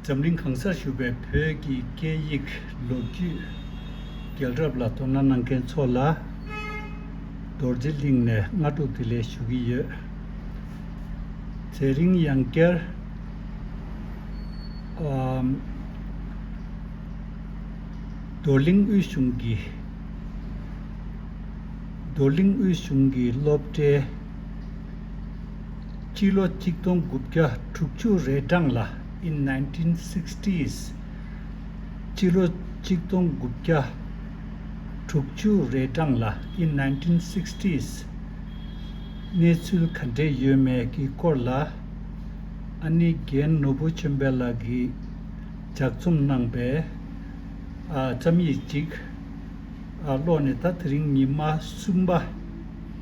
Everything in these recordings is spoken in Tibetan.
འཛམ་གླིང་གང་སར་བཞུགས་པའི་བོད་ཀྱི་སྐད་ཡིག་ལོ་རྒྱུས་རྒྱལ་རབས་ལ་དོ་སྣང་གནང་མཁན་ཚོ་ལ་རྡོར་རྗེ་གླིང་ནས་སྔ་དྲོ་དེ་ལས་ཞུ་གི་ཡོད། ཚེ་རིང་གཡང་སྐྱར། རྡོར་གླིང་དབུས་གཞུང་གི་རྡོར་གླིང་དབུས་གཞུང་གི་སློབ་གྲྭའི། སྤྱི་ལོ་གཅིག་སྟོང་དགུ་བརྒྱ་དྲུག་ཅུ་རེ་གྲངས་ལ in nineteen sixties སྤྱི་ལོ་གཅིག་སྟོང་དགུ་བརྒྱ་དྲུག་ཅུ་རེ་གྲངས་ལ in nineteen sixties གནས་ཚུལ་ག་འདྲས་ཡོད་མེད་ཀྱི་སྐོར་ལ་ཨ་ནེ་རྒན་ནོར་བུ་ཆོས་འཕེལ་ལགས་ཀྱིས་ལྗགས་རྩོམ་གནང་པའི་བརྩམས་ཡིག་ཅིག་ཀློག་ནས་ད་དེ་རིང་ཉི་མ་གསུམ་པ།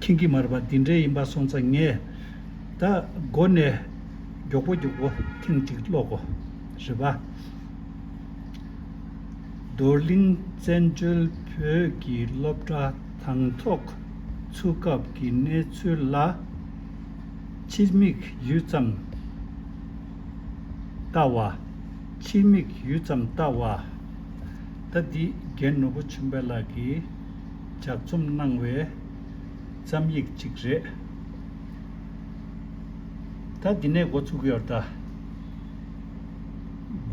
ཁྱིམ་གྱི་མར་པ་འདི་འདྲའི་ཡིན་པ་སོང་ཚ་ངས། ད་སྒོ་ནས་མགྱོགས་པོ་མགྱོགས་པོ་ཐེངས་གཅིག་ཀློག་གོ། རེ་བ། རྡོར་གླིང་བཙན་བྱོལ་བོད་ཀྱི་སློབ་གྲྭ་དང་ཐོག་ཚུགས་སྐབས་ཀྱི་གནས་ཚུལ་ལ་ཕྱི་མིག་ཡུད་ཙམ་ལྟ་བ། ཕྱི་མིག་ཡུད་ཙམ་ལྟ་བ། ད་འདི་རྒན་ནོར་བུ་ཆུང་བལ་ལགས་ཀྱིས། ལྗགས་རྩོམ་གནང་བའི་བརྩམས་ཡིག་ཅིག་རེད། ད་འདི་ནས་འགོ་ཚུགས་ཡོར་ད།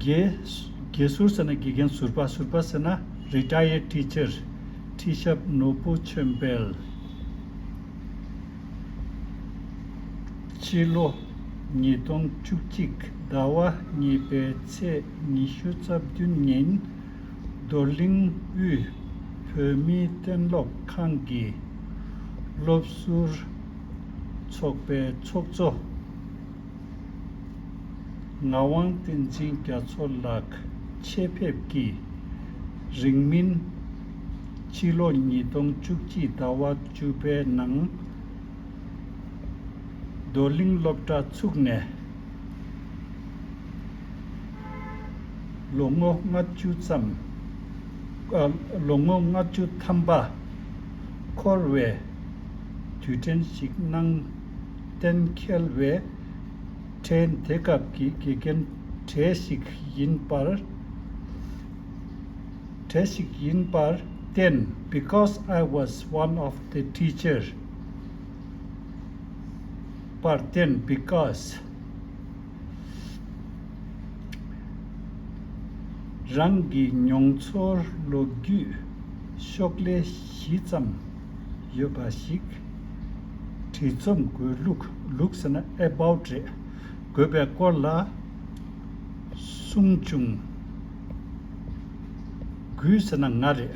དགེ་ཟུར་ཟེར་ན་དགེ་རྒན་ཟུར་པ་ཟུར་པ་ཟེར་ན Retired Teacher ཁྲི་ཞབས་ནོར་བུ་ཆོས་འཕེལ། ཕྱི་ལོ་ཉིས་སྟོང་བཅུ་གཅིག་ཟླ་བ་གཉིས་པའི་ཚེས་ཉི་ཤུ་རྩ་བདུན་ཉིན། རྡོར་གླིང་དབུས་བོད་མིའི་གཏན་སློབ་ཁང་གི་སློབ་ཟུར་ཚོགས་པའི་ཚོགས་གཙོ་ངག་དབང་བསྟན་འཛིན་རྒྱ་མཚོ་ལགས་ཆེད་ཕེབས་ཀྱིས་རིང་མིན་ཕྱི་ལོ་ཉིས་སྟོང་བཅུ་གཅིག་ཟླ་བ་བཅུ་པའི་ནང་རྡོར་གླིང་སློབ་གྲྭ་ཚུགས་ནས། ལོ་ངོ་ལྔ་བཅུ་ཙམ། ལོ་ངོ་ལྔ་བཅུ་ཐམ་པ། འཁོར་བའི་དུས་དྲན་ཞིག་གནང། གཏན་འཁེལ་བའི་དྲན་དེ་སྐབས་ཀྱི་དགེ་རྒན་གྲས་ཤིག་ཡིན་པར་གྲས་ཤིག་ཡིན་པར་བརྟེན because I was one of the teacher། པར་བརྟེན་སྤི་ཀ་སི་རང་གི་མྱོང་ཚོར་ལོ་རྒྱུས་ཤོག་ལྷེ་བཞི་ཙམ་ཡོད་པ་ཞིག་བྲིས་རྩོམ་དགོས་ལུགས་ཟེར་ན About རེད་དགོས་པའི་སྐོར་ལ་གསུངས་བྱུང་དགུའི་ཟེར་ན་ང་རེད།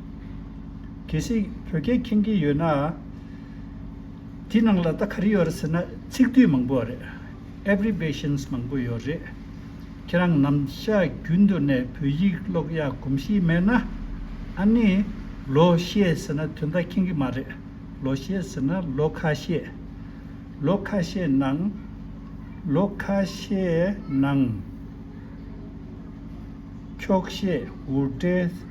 གལ་སྲིད་བོད་སྐད་མཁྱེན་མཁན་ཡོད་ན། དེའི་ནང་ལ་ལྟ་ག་རེ་ཡོད་རེད་ཟེར་ན་ཚིག་བསྡུས་མང་པོ་རེད། Abbreviations། མང་པོ་ཡོད་རེད། ཁྱེད་རང་ནམ་ཞག་རྒྱུན་དུ་ནས་བོད་ཡིག་ཀློག་ཡག་གོམས་གཤིས་མེད་ན། ཨ་ནི། ལོ་ཤས་ཟེར་ན་དོན་དག་མཁྱེན་གི་མ་རེད། ལོ་ཤས་ཟེར་ན་ལོ་ཁ་ཤས། ལོ་ཁ་ཤས་ནང། ལོ་ཁ་ཤས་ནང། འཁྱོག་བཤད་འུར་སྒྲའི།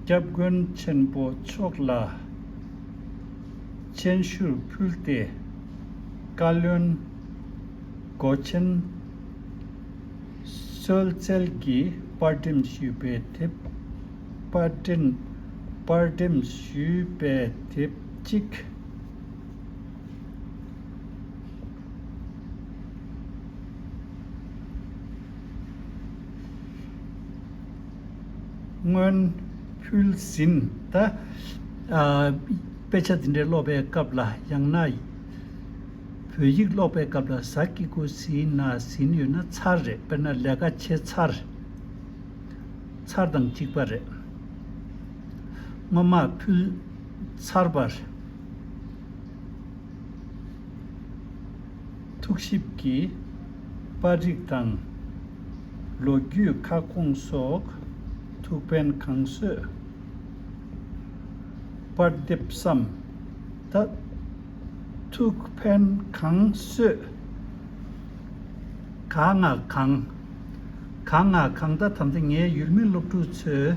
སྐྱབས་མགོན་ཆེན་པོ་མཆོག་ལ་སྤྱན་ཞུར་ཕུལ་ཏེ་བཀའ་བློན་སྒོ་ཆེན་བསོད་རྩལ་གྱིས་དཔར་འགྲེམས་ཞུས་པའི་དེབ་དཔར་འགྲེམས་ཞུས་པའི་དེབ་གཅིག། སྔོན་ཕུལ་ཟིན་གདའ། དཔེ་ཆ་འདི་འདྲ་ཀློག་པའི་སྐབས་ལ་ཡང་ན་བོད་ཡིག་ཀློག་པའི་སྐབས་ལ་ཟ་ཀི་ཀོ་ཟིན་ན་ཟིན་ཡོད་ན་ཚར་རེད་དཔེར་ན་ལས་ཀ་བྱེད་ཚར་ཚར་དང་གཅིག་པ་རེད། སྔོན་མ་ཕུལ་ཚར་བར། ཐུགས་ཞིབ་ཀྱིས་པར་རིགས་དང། ལོ་རྒྱུས་ཁ་སྐོང་སོགས་ཐུགས་ཕན་གང་གསོས། པར་འདེབས་སམ། ད་ཐུགས་ཕན་གང་གསོས། ག་ང་གང། ག་ང་གང་ད་དམ་ཚེ་ངའི་ཡུལ་མི་སློབ་ཕྲུག་ཚོས།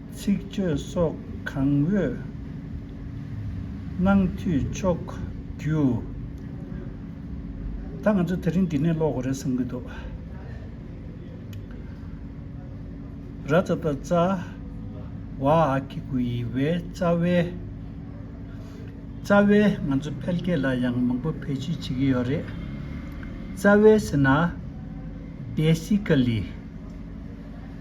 ཚིག་བརྗོད་སོགས་གང་འོས་གནང་འཐུས་ཆོག་རྒྱུ། ད་ང་ཚོ་དེ་རིང་འདི་ནས་ཀློག་དགོས་རེད་བསམ་གྱི་འདུག། ར་རྩ་རྟ་རྩ་བ་ཨ་ཁི་གུ་ཡི་བའི་རྩ་བའི་རྩ་བའི་ང་ཚོ་འཕེལ་རྒྱས་ལ་ཡང་མང་པོ་བེད་སྤྱོད་བྱེད་ཀྱི་ཡོད་རེད། རྩ་བའི་ཟེར་ན། Basically།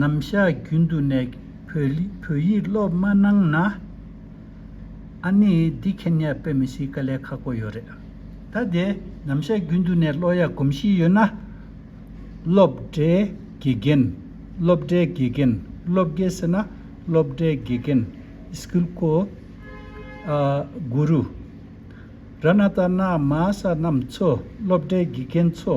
ནམ་བཞག་རྒྱུན་དུ་ནས་བོད་ཡིག་སློབ་མ་གནང་ན། ཨ་ནི་འདི་མཁྱེན་ཉར་དཔེ་མི་སྲིད་ཀ་ལས་ཁག་པོ་ཡོད་རེད། ད་དེ་ནམ་བཞག་རྒྱུན་དུ་ནས་སློ་ཡག་གོམས་གཤིས་ཡོད་ན། སློབ་གྲྭའི་དགེ་རྒན་སློབ་གྲྭའི་དགེ་རྒན་སློབ་དགེ་ཟེར་ན་སློབ་གྲྭའི་དགེ་རྒན School གོ། Guru། ར་ན་ཏཱ་ན་མ་ས་རྣམས་ཚོ་སློབ་གྲྭའི་དགེ་རྒན་ཚོ།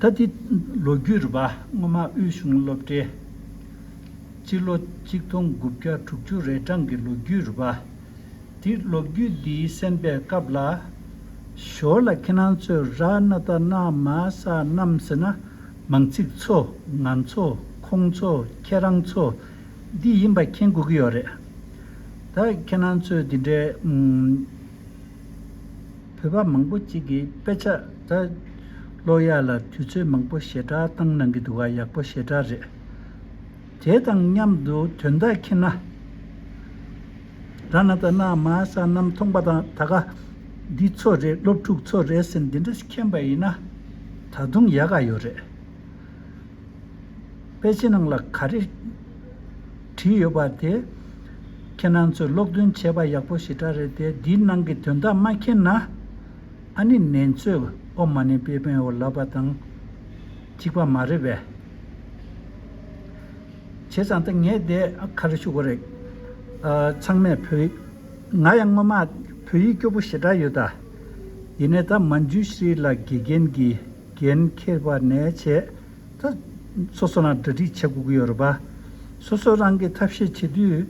ད་ལྟའི་ལོ་རྒྱུས་རུ་པདྨ་དབུས་གཞུང་སློབ་གྲྭའི་སྤྱི་ལོ་གཅིག་སྟོང་དགུ་བརྒྱ་དྲུག་ཅུ་རེ་གྲངས་ཀྱི་ལོ་རྒྱུས་རུ་པ་དེ་ལོ་རྒྱུས་འདིའི་གསན་པའི་སྐབས་ལ། ཞོར་ལ་ཁྱེད་རང་ཚོས་ར་ན་ད་ན་མ་ས་རྣམས་ཟེར་ན་མང་ཚིག་ཚོ་ང་ཚོ་ཁོང་ཚོ་ཁྱེད་རང་ཚོ་འདི་ཡིན་པ་མཁྱེན་དགོས་ཀྱི་ཡོད་རེད། ད་ཁྱེད་རང་ཚོས་འདི་འདྲའི། བོད་པ་མང་པོ་གཅིག་གིས་དཔེ་ཆ་དེ་ཀློག་ཡག་ལ་དུས་ཚོད་མང་པོ་ཞེ་དྲག་བཏང་གནང་གི་འདུག་ག་ཡག་པོ་ཞེ་དྲག་རེད། དེ་དང་མཉམ་དུ་དོན་དག་མཁྱེན་ན། ར་ན་ད་ན་མ་ས་གནམ་མཐོང་པ་དང་ད་ག་འདི་ཚོ་རེད་སློབ་ཕྲུག་ཚོ་རེད་ཟེར་འདི་འདྲ་མཁྱེན་པ་ཡིན་ན་ད་དུང་ཡག་ག་ཡོད་རེད། དཔེ་ཆའི་ནང་ལ་ག་རེ་བྲིས་ཡོད་པ་དེ་ཁྱེད་རང་ཚོས་ཀློག་འདོན་བྱས་པ་ཡག་པོ་ཞེ་དྲག་རེད་དེ་འདིའི་ནང་གི་དོན་དག་མ་མཁྱེན་ན་ཨ་ནི་ནེ་ཚོས་ཨོ་མ་ནི་པེ་པེན་ཨོ་ལབ་པ་དང་གཅིག་པ་མ་རེད་བས། བྱས་ཙང་ད་ངས་དེ་ག་རེ་ཞུ་གོ་རེད། ཚང་མས་བོད་ཡིག་ང་ཡང་སྔོན་མ་བོད་ཡིག་སྐྱོ་པོ་ཞེ་དྲག་ཡོད་ད། ཡིན་ནས་ད་མ་འཇུ་ཤྲི་ལ་དགེ་རྒན་གྱིས། འགན་འཁྱེར་བ་ནས་བྱས། སོ་སོ་རང་གྲ་སྒྲིག་བྱེད་དགོས་ཀྱི་ཡོད་རེད་པ། སོ་སོ་རང་གིས་ཐབས་ཤེས་བྱེད་དུས།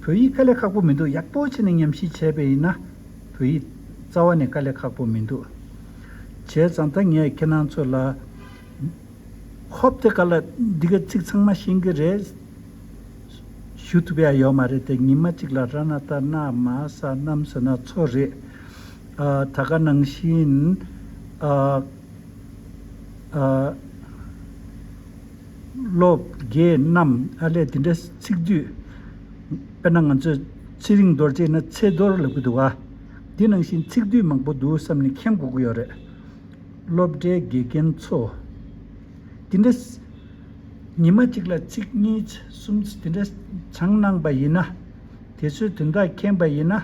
བོད་ཡིག་དཀའ་ལས་ཁག་པོ་མི་འདུག་ཡག་པོ་བྱས་ནས་ཉམས་ཞིབ་བྱས་པས་ཡིན་ན། བོད་ཡིག་རྩ་བ་ནས་དཀའ་ལས་ཁག་པོ་མི་འདུག། བྱས་ཙང་ད་ངས་ཁྱེད་རང་ཚོ་ལ། ཧོབ་དེ་ག་ལ་འདི་ག་ཚིག་ཚང་མ་ཤེས་ཀྱི་རེད། ཞུ་ཐུབ་ཡ་ཡོད་མ་རེད་དེ་ཉིན་མ་གཅིག་ལ་ར་ན་ཏར་ནག་མ་ས་གནམ་ཟེར་ན་ཚོ་རེད། ད་ག་ནང་བཞིན། བློ་བརྒྱད་རྣམས་ཨ་ལས་དེ་འདྲ་ཚིག་བསྡུས། དཔེར་ན་ང་ཚོས་ཚེ་རིང་རྡོར་ཅེས་ན་ཚེ་རྡོར་ལབ་གི་འདུག་ག། འདི་ནང་བཞིན་ཚིག་བསྡུས་མང་པོ་འདུག་བསམ་ནས་མཁྱེན་དགོས་ཀྱི་ཡོད་རེད། སློབ་གྲྭའི་དགེ་རྒན་ཚོ། དེ་འདྲ། ཉིན་མ་གཅིག་ལ་ཚིག་གཉིས་གསུམ་དེ་འདྲ་སྦྱངས་གནང་པ་ཡིན་ན། དེ་ཚོའི་དོན་དག་མཁྱེན་པ་ཡིན་ན།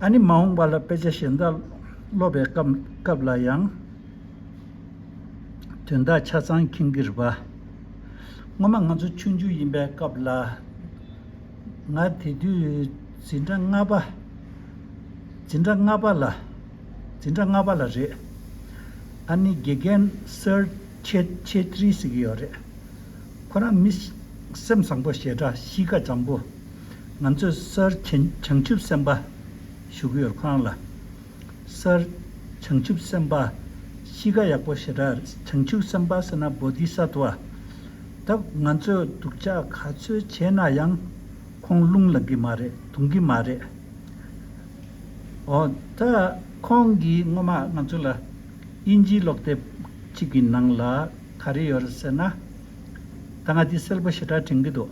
ཨ་ནི་མ་འོངས་པ་ལ་དཔེ་ཆ་གཞན་དག་ཀློག་པའི་སྐབས་ལ་ཡང་དོན་དག་ཆ་ཚང་མཁྱེན་གྱི་རེད་པ། སྔོན་མ་ང་ཚོ་ཆུང་ཆུང་ཡིན་པའི་སྐབས་ལ། ང་དེ་དུས་འཛིན་གྲྭ་ལྔ་པ། འཛིན་གྲྭ་ལྔ་པ་ལ། འཛིན་གྲྭ་ལྔ་པ་ལ་རེད། ཨ་ནི་དགེ་རྒན་སིར་ཆེ་ཆེ་ཐྲི་ཟེར་གྱི་ཡོད་རེད། ཁོ་རང་མི་སེམས་བཟང་པོ་ཞེ་དྲག་གཤིས་ཀ་འཇམ་པོ། ང་ཚོས་སར་བྱང་ཆུབ་སེམས་དཔའ་བཞུགས་ཡོད་ཁང་ལ། སར་བྱང་ཆུབ་སེམས་དཔའ་གཤིས་ཀ་ཡག་པོ་ཞེ་དྲགས་བྱང་ཆུབ་སེམས་དཔའ་ཟེར་ན་བོ་དྷི་ས་ཏུ་ཨ། ད་ང་ཚོས་སྡུག་ཅག་ག་ཚོད་བྱས་ན་ཡང་ཁོང་རླུང་ལངས་གི་མ་རེད་དུང་གི་མ་རེད། ཨོ་ད་ཁོང་གིས་སྔོན་མ་ང་ཚོ་ལ་དབྱིན་ཇིའི་ཀློག་དེབ་ཅིག་གི་ནང་ལ་ག་རེ་ཡོད་རེད་ཟེར་ན། ད་ང་དེ་སེལ་པོ་ཞེ་དྲགས་དྲན་གི་འདུག།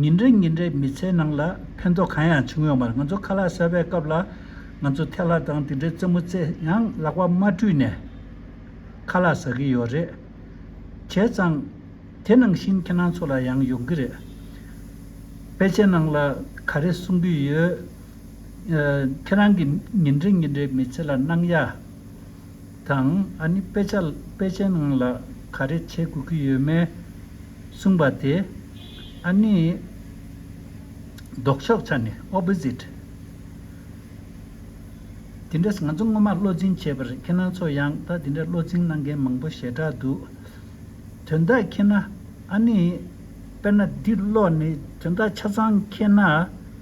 ཉིན་རེ་ཉིན་རེ་མི་ཚེའི་ནང་ལ་ཕན་ཐོགས་གང་ཡང་བྱུང་ཡོད་མ་རེད་ང་ཚོ་ཁ་ལག་བཟའ་བའི་སྐབས་ལ་ང་ཚོ་ཐལ་ལག་དང་དེ་འདྲའི་རྩེད་མོ་རྩེད་ཡང་ལག་པ་མ་བཀྲུས་ནས་ཁ་ལག་བཟའ་གི་ཡོད་རེད། བྱས་ཙང་དེ་ནང་བཞིན་ཁྱེད་རང་ཚོ་ལ་ཡང་ཡོང་གི་རེད། དཔེ་ཆའི་ནང་ལ་ག་རེ་གསུང་གི་ཡོད། ཁྱེད་རང་གི་ཉིན་རེ་ཉིན་རེའི་མི་ཚེ་ལ་སྣང་ཡ། དང་ཨ་ནི་དཔེ་ཆ་དཔེ་ཆའི་ནང་ལ་ག་རེ་བྱེད་དགོས་ཀྱི་ཡོད་མེད་གསུངས་པ་དེ་ཨ་ནི་ལྡོག་ཕྱོགས་ཆ་ནས Opposite དེ་འདྲས་ང་ཚོ་སྔོན་མ་བློ་འཛིན་བྱས་པར་ཁྱེད་རང་ཚོ་ཡང་ད་དེ་འདྲས་བློ་འཛིན་གནང་མཁན་མང་པོ་ཞེ་དྲག་འདུག་དོན་དག་མཁྱེན་ན་ཨ་ནི་དཔེར་ན་འདི་ཀློག་ནས་དོན་དག་ཆ་ཚང་མཁྱེན་ན།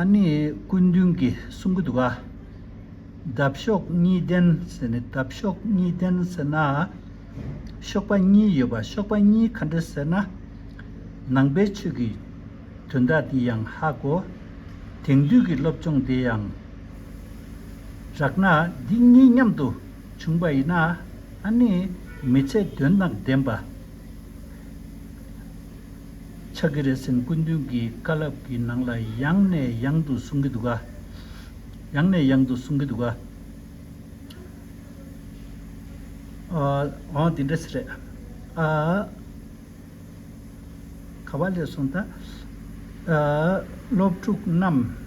ཨ་ནི་སྐུ་མདུན་གྱི་གསུང་གི་དུ་བ། འདབ་གཤོག་གཉིས་ལྡན་ཟེར་ནས་འདབ་གཤོག་གཉིས་ལྡན་ཟེར་ན། གཤོག་པ་གཉིས་ཡོད་པ་གཤོག་པ་གཉིས་ག་འདྲ་ཟེར་ན། ནང་པའི་ཆོས་ཀྱི་དོན་དག་འདི་ཡང་ཧ་གོ། དེང་དུས་ཀྱི་སློབ་སྦྱོང་དེ་ཡང་རག་ན་འདི་གཉིས་མཉམ་དུ་བྱུང་བ་ཡིན་ན་ཨ་ནི་མི་ཚད་དོན་དང་ལྡན་པ། ཕྱག་གི་རེ་སེམས་སྐུ་མདུན་གྱི་བཀའ་བསླབ་ཀྱི་ནང་ལ་ཡང་ནས་ཡང་དུ་གསུང་གི་འདུག་ག། ཡང་ནས་ཡང་དུ་གསུང་གི་འདུག་ག། འོང། དེ་འདྲ་ཞིག་རེད། ཨ། ག་བ་ལས་སོང་ད། ཨ། སློབ་ཕྲུག་རྣམས།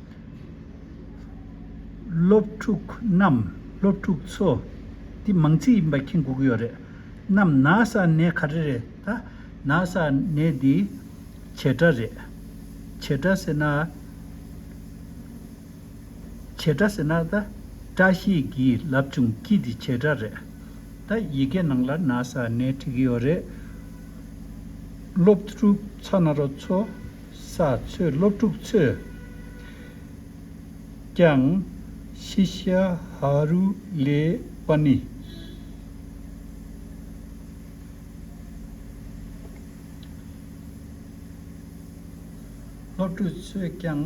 སློབ་ཕྲུག་རྣམས་སློབ་ཕྲུག་ཚོ། འདི་མང་ཚིག་ཡིན་པ་མཁྱེན་འགུག་ཡོད་རེད། རྣམས་ན་ས་ནས་ག་རེ་རེད་ད། ན་ས་ནས་འདི་བྱེས་སྒྲ་རེད། བྱེས་སྒྲ་ཟེར་ན། བྱེས་སྒྲ་ཟེར་ན་ད། བཀྲ་ཤིས་ཀྱིས་ལབ་བྱུང་སྐྱིད་འདི་བྱེས་སྒྲ་རེད། ད་ཡི་གེ་ནང་ལ་ན་ས་ནས་བྲིས་ཀྱི་ཡོད་རེད། སློབ་ཕྲུག་ཚ་ན་རོ་ཚོ། ས་ཚོད་སློབ་ཕྲུག་ཚོས་ཀྱང་ཤི་ཤ་ཧ་རུ་ལེ་པ་ནི། སློབ་ཕྲུག་ཚོས་ཀྱང།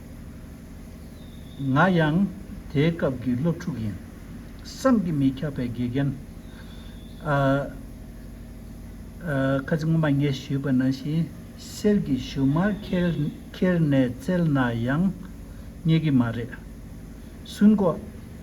ང་ཡང་དེའི་སྐབས་ཀྱི་སློབ་ཕྲུག་ཡིན། བསམ་གྱིས་མི་ཁྱབ་པའི་དགེ་རྒན། ཨ། ཁ་ཆེ་ངོ་མ་ངས་ཞུས་པ་ན་བཞིན་གསེར་གྱི་ཞུན་མར་ཁྱེར་ནས་བཙལ་ན་ཡང་རྙེད་ཀྱི་མ་རེད། སུན་ཀོ།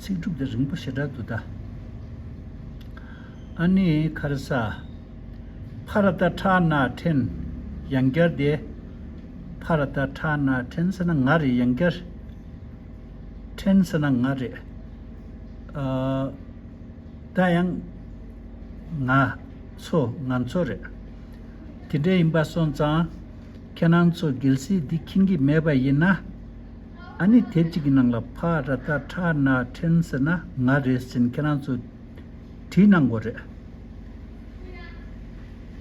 ཚིག་གྲུབ་དང་རིང་པོ་ཞེ་དྲག་ཏུ་གདའ། ཨ་ནེ་ཁ་ར་ས། ཕ་ར་ཏཱ་ཁྲ་ནཱ་ཐྲན། ཡང་བསྐྱར་ཏེ། ཕ་ར་ཏཱ་ཁྲ་ནཱ་ཐྲན་ཟེར་ན་ང་རེད་ཡང་བསྐྱར། ཐྲན་ཟེར་ན་ང་རེད། ཏཱ་ཡང། ང། ཚོ་ང་ཚོ་རེད། དེ་འདྲ་ཡིན་པ་སོང་ཙང། ཁྱེད་རང་ཚོ་གལ་སྲིད་འདི་མཁྱེན་གྱི་མེད་པ་ཡིན་ན། ཨ་ནི་དེབ་ཅིག་གི་ནང་ལ་བྷ་ར་ཏ་ཁྲ་ན་ཁྲེན་ཟེར་ན་ང་རེད་ཟེར་ཁྱེད་རང་ཚོས་བྲིས་གནང་དགོས་རེད།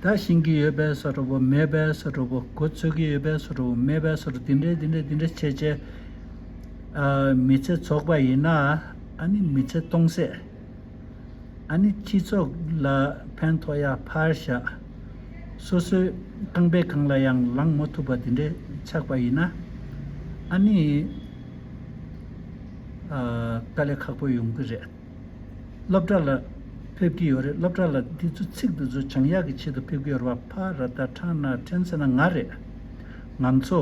ད་བཞེངས་ཀྱི་ཡོད་པའི་སོ་ཁྲ་བོ་མེད་པའི་སོ་ཁྲ་བོ་གོ་ཚོད་ཀྱི་ཡོད་པའི་སོ་ཁྲ་བོ་མེད་པའི་སོ་ཁྲ་དེ་འདྲས་དེ་འདྲས་དེ་འདྲས་བྱས་བྱས་ཨ་མི་ཚེ་ཚོགས་པ་ཡིན་ན་ཨ་ནི་མི་ཚེ་སྟོང་ཟད། ཨ་ནི་སྤྱི་ཚོགས་ལ་ཕན་ཐོགས་ཡ་ཕར་བཞག་སོ་སོའི་རྐང་པའི་གང་ལ་ཡང་ལངས་མ་ཐུབ་པ་དེ་འདྲའི་ཆགས་པ་ཡིན་ན། ཨ་ནི་དཀའ་ལས་ཁག་པོ་ཡོང་གི་རེད། སློབ་གྲྭ་ལ་ཕེབས་ཀྱི་ཡོད་རེད་སློབ་གྲྭ་ལ་དེ་ཚོ་ཚིག་དེ་ཚོ་བྱང་ཡག་གི་ཆེད་དུ་ཕེབས་ཀྱི་ཡོད་རེད་བ་ཕ་ར་ད་ཁྲང་ན་ཁྲེན་སེ་ན་ང་རེད། ང་ཚོ།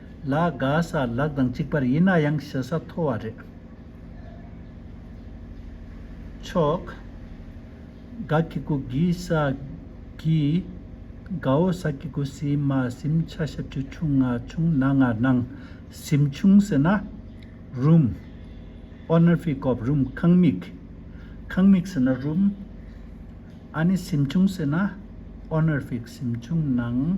ལ་དགའ་ས་ལགས་དང་གཅིག་པར་ཡིན་ན་ཡང་ཞེ་ས་མཐོ་བ་རེད། ཆོག། དགའ་ཁྱི་གུ་གི་ས་གི། དགའ་བོ་ས་ཀྱི་གུ་སི་མ་སིམ་ཆ་ཤ་ཁྲི་ཁྲུང་ང་ཆུང་ན་ང་ནང་སིམ་ཆུང་ཟེར་ན། རུམ། ཨོནར་ཕི་ཀོབ་རུམ་ཁང་མིག། ཁང་མིག་ཟེར་ན་རུམ། ཨ་ནི་སིམ་ཆུང་ཟེར་ན། ཨོནར་ཕིག་སིམ་ཆུང་ནང།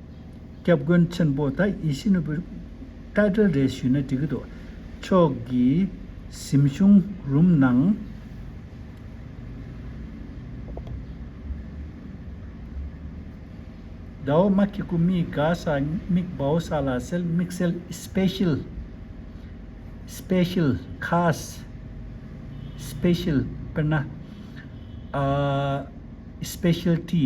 སྐྱབས་མགོན་ཆེན་པོ་ད་ཡེ་ཤེས་ནོར་བུའི་བཀའ་དྲིན་རེ་ཞུས་ན་འགྲིག་གི་འདུག་ཕྱོགས་ཀྱི་གཟིམ་གཞུང་རུམ་ནང། དགའ་བོ་དམག་གི་སྐུ་མི་དགའ་ས་མིག་དཔའ་བོ་ས་ལ་གསལ་དམིགས་གསལ Special Special ཁཱས Special དཔེར་ན། Specialty།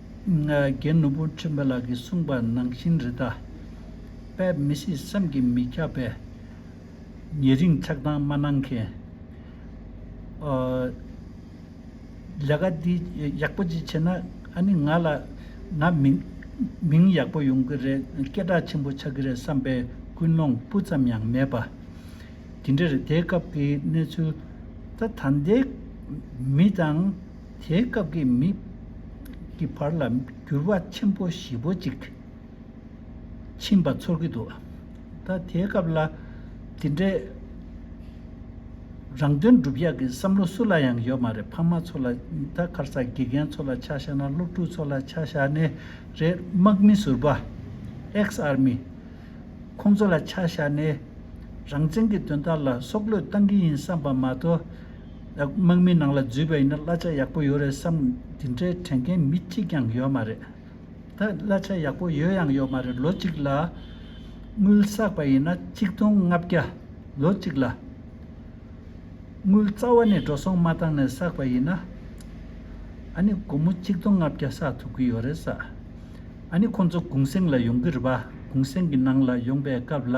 རྒན་ནོར་བུ་ཁྲི་འབའ་ལགས་ཀྱིས་གསུངས་པ་ནང་བཞིན་རི་དྭགས་དཔལ་མི་སྲིད་བསམ་གྱིས་མི་ཁྱབ་པས། ཉེ་རིང་ཆགས་སྡང་མ་གནང་མཁན། ལས་ཀ་འདི་ཡག་པོ་ཅིག་བྱས་ན་ཨ་ནི་ང་ལ་ང་མིང་ཡག་པོ་ཡོང་གི་རེད་སྐད་གྲགས་ཆེན་པོ་ཆགས་ཀྱི་རེད་བསམ་པའི་ཀུན་སློང་སྤུ་ཙམ་ཡང་མེད་པ། དེ་འདྲར་དེའི་སྐབས་ཀྱི་གནས་ཚུལ་ད་ད་ལྟའི་མི་དང། དེའི་སྐབས་ཀྱི་མི། ཀྱི་བར་ལ་འགྱུར་བ་ཆེན་པོ་བཞི་པོ་གཅིག། ཕྱིན་པ་ཚོར་གྱི་འདུག་ད་དེའི་སྐབས་ལ། དེ་འདྲའི། རང་དོན་སྒྲུབ་ཡག་གི་བསམ་བློ་སུ་ལ་ཡང་ཡོད་མ་རེད་ཕ་མ་ཚོ་ལ་ད་གར་ས་དགེ་རྒན་ཚོ་ལ་ཆ་བཞག་ན་སློབ་ཕྲུག་ཚོ་ལ་ཆ་བཞག་ནི་རེད་དམག་མི་ཟུར་པ། Ex Army། ཁོང་ཚོ་ལ་ཆ་བཞག་ནི། རང་བཙན་གྱི་དོན་དག་ལ་སྲོག་བློས་བཏང་གི་ཡིན་བསམ་པ་མ་གཏོགས། དམག་མི་ནང་ལ་འཛུལ་བ་ཡིན་ན་གླ་ཆ་ཡག་པོ་ཡོད་རེད་བསམ། དེ་འདྲའི་དྲན་མཁན་མི་གཅིག་ཀྱང་ཡོད་མ་རེད། ད་གླ་ཆ་ཡག་པོ་ཡོད་ཡང་ཡོད་མ་རེད་ལོ་གཅིག་ལ། དངུལ་བསགས་པ་ཡིན་ན་གཅིག་སྟོང་ལྔ་བརྒྱ། ལོ་གཅིག་ལ། དངུལ་རྩ་བ་ནས་འགྲོ་སོང་མ་བཏང་ནས་བསགས་པ་ཡིན་ན། ཨ་ནི་སྒོར་མོ་གཅིག་སྟོང་ལྔ་བརྒྱ་བསགས་ཐུབ་ཀྱི་ཡོད་རེད་བསམ། ཨ་ནི་ཁོང་ཚོ་གུང་སེང་ལ་ཡོང་གི་རེད་པ་གུང་སེང་གི་ནང་ལ་ཡོང་པའི་སྐབས་ལ་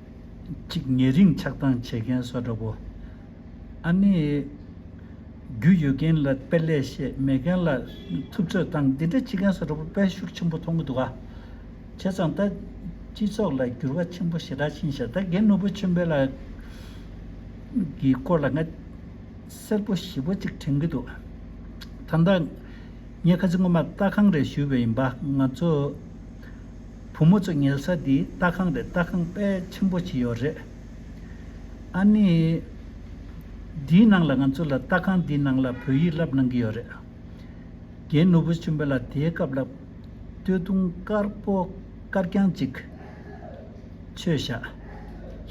གཅིག་ཉེ་རིང་ཆགས་སྡང་བྱེད་མཁན་སོགས་འདྲ་པོ། ཨ་ནེ། རྒྱུ་ཡོད་མཁན་ལ་དཔེ་ལེགས་བཤད་མེད་མཁན་ལ་ཐུབ་ཚོད་བཏང་འདི་འདྲ་བྱེད་མཁན་སོགས་འདྲ་པོ་དཔལ་ཤུགས་ཆེན་པོ་ཐོང་གི་འདུག་ཨ། བྱས་ཙང་ད། སྤྱི་ཚོགས་ལ་འགྱུར་བ་ཆེན་པོ་ཞེ་དྲག་ཕྱིན་ཤག་ད་རྒན་ནོར་བུ་ཆོས་འཕེལ་ལགས། གི་སྐོར་ལ་ང། གསལ་པོ་ཞིབ་པོ་གཅིག་དྲན་གི་འདུག་ཨ། ད། ངས་ཁ་ཚིག་ངོ་མ་ལྟ་གང་རེད་ཞུས་པས་ཡིན་པ་ང་ཚོ། བུ་མོ་ཚོ་ཉལ་ས་འདི་སྟག་ཁང་རེད་སྟག་ཁང་དཔལ་ཆེན་པོ་ཅི་ཡོད་རེད། ཨ་ནི། འདིའི་ནང་ལ་ང་ཚོ་ལ་སྟག་ཁང་འདིའི་ནང་ལ་བོད་ཡིག་བསླབ་གནང་གི་ཡོད་རེད། རྒན་ནོར་བུ་ཆེན་པོ་ལ་དེའི་སྐབས་ལ་སྟོད་ཐུང་དཀར་པོ་དཀར་རྐྱང་ཅིག་ཆོས་ཞག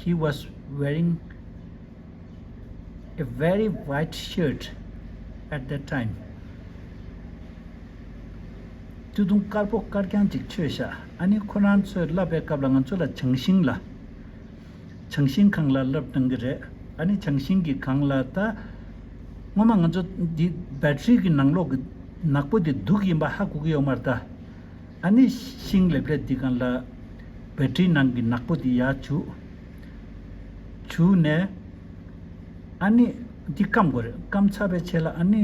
He was wearing a very white shirt at that time། སྐྱོ་གདུང་དཀར་པོ་དཀར་རྐྱང་ཅིག་ཁྱོད་ཤ་ཨ་ནི་ཁོ་རང་ཚོས་བསླབ་པའི་སྐབས་ལ་ང་ཚོ་ལ་བྱང་ཤིང་ལ། བྱང་ཤིང་གང་ལ་བསླབ་གྲང་གི་རེད་ཨ་ནི་བྱང་ཤིང་གི་གང་ལ་ད། སྔོན་མ་ང་ཚོ་འདི Battery གི་ནང་ལོག་གི་ནག་པོ་དེ་དུག་ཡིན་པ་ཧ་གོ་གི་ཡོག་མར་ད། ཨ་ནི་ཤིང་ལེབ་ལེབ་འདི་གང་ལ། Battery ནང་གི་ནག་པོ་དེ་ཡར་བྱུག། བྱུག་ནས། ཨ་ནི་འདི་སྐམ་དགོས་རེད་སྐམ་ཚར་པའི་ཆད་ལ་ཨ་ནི།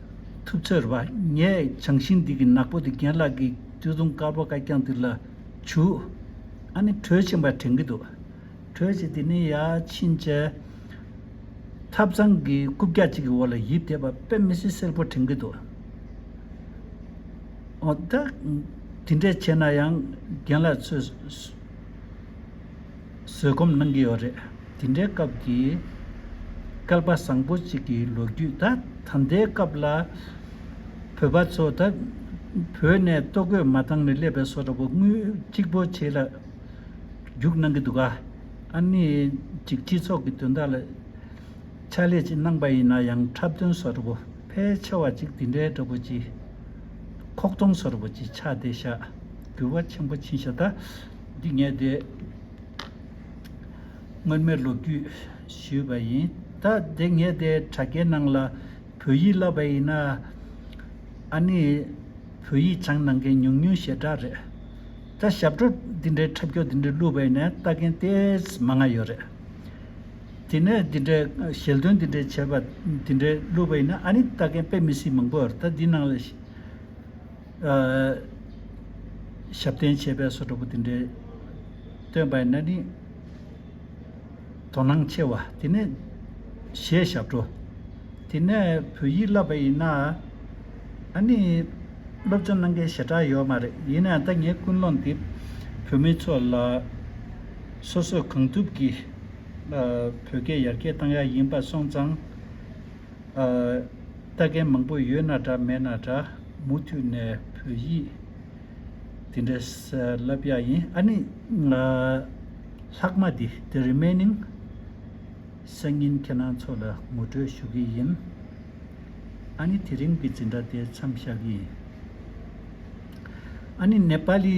ཐུབ་ཚོད་རེད་བ། ངས་བྱང་ཤིང་འདི་གི་ནག་པོ་དེ་རྒན་ལགས་ཀྱིས་དུས་བཟུང་དཀར་པོ་དཀར་རྐྱང་འདི་ལ་བྱུག། ཨ་ནི་དྲོད་ཆེན་པ་དྲན་གི་འདུག། དྲོད་ཆེ་དེ་ནི་ཡ་ཕྱིན་ཆད། ཐབ་ཚང་གི་རྐུབ་བཀྱག་གཅིག་གི་འོག་ལ་ཡིབ་དེ་བ་དཔེ་མི་སྲིད་སེར་པོ་དྲན་གི་འདུག། འོ་ད། དེ་འདྲས་བྱས་ན་ཡང་རྒན་ལགས་ཚོས། བཟོད་སྒོམ་གནང་གི་ཡོད་རེད། དེ་འདྲའི་སྐབས་ཀྱི་སྐལ་པ་བཟང་པོ་ཅིག་གི་ལོ་རྒྱུས་ད་ད་ལྟའི་སྐབས་ལ་བོད་པ་ཚོ་ད་བོད་ནས་ལྟོ་གོས་མ་བཏང་ནས་སླེབས་པའི་སོ་འདྲ་པོ་དངུལ་གཅིག་པོ་བྱེད་ལ་རྒྱུགས་གནང་གི་འདུག་ག་ཨ་ནི་ཅིག་སྤྱི་ཚོགས་ཀྱི་དོན་དག་ལ་ཕྱག་ལས་ཅིག་གནང་པ་ཡིན་ན་ཡང་འཁྲབ་སྟོན་སོ་འདྲ་པོ་ཕལ་ཆེ་བ་ཅིག་དེ་འདྲའི་འདྲ་པོ་ཅིག་ཁོག་སྟོང་སོ་འདྲ་པོ་ཅིག་ཆགས་བསྡད་བཞག་འགྱུར་བ་ཆེན་པོ་ཕྱིན་ཤ་ད། འདི་ངས་དེ་སྔོན་མའི་ལོ་རྒྱུས་ཞུས་པ་ཡིན། ད་དེ་ངས་དེ་དྲ་རྒྱའི་ནང་ལ་བོད་ཡིག་བསླབས་པ་ཡིན། ཨ་ནི་བོད་ཡིག་སྦྱང་གནང་མཁན་ཉུང་ཉུང་ཞེ་དྲག་རེད། ད་ཞབས་བྲོ་འདི་འདྲའི་འཁྲབ་ཁྱོག་འདི་འདྲ་བླུས་པ་ཡིན་ན་ལྟ་མཁན་ལྟས་མ་ང་ཡོད་རེད། དེ་ནས་འདི་འདྲའི་ཞལ་འདོན་འདི་འདྲའི་བྱས་པ་འདི་འདྲའི་བླུས་པ་ཡིན་ན་ཨ་ནི་ལྟ་མཁན་དཔེ་མི་སྲིད་མང་པོ་ཡོད་རེད། ད་འདི་ནང་ལ། ཞབས་བརྟན་བྱས་པས་སོ་དྲག་པོ་དེ་འདྲའི། སྟོན་པའི་གནས་ནི་དོ་སྣང་ཆེ་བ། དེ་ནས་ཞེས་ཞབས་བྲོ། དེ་ནས་བོད་ཡིག་བསླབ་པ་ཡིན་ན། ཨ་ནི་སློབ་སྦྱོང་གནང་མཁན་ཞེ་དྲག་ཡོད་མ་རེད་ཡིན་ནའང་ད་ངའི་ཀུན་སློང་འདི། བོད་མི་ཚོ་ལ། སོ་སོས་གང་ཐུབ་ཀྱིས། བོད་སྐད་ཡར་རྒྱས་གཏང་ཡག་ཡིན་པ་སོང་ཙང། ལྟ་མཁན་མང་པོ་ཡོད་ན་འདྲ་མེད་ན་འདྲ་མུ་མཐུད་ནས་བོད་ཡིག་འདི་འདྲས་ལབ་ཡག་ཡིན་ཨ་ནི། ལྷག་མ་འདི the remaining སང་ཉིན་ཁྱེད་རང་ཚོ་ལ་ངོ་སྤྲོད་ཞུ་གི་ཡིན་ཨ་ནི་དེ་རིང་གི་འཛིན་གྲྭ་དེ་མཚམས་བཞག་གི་ཡིན་ཨ་ནི་ནེ་པ་ལི།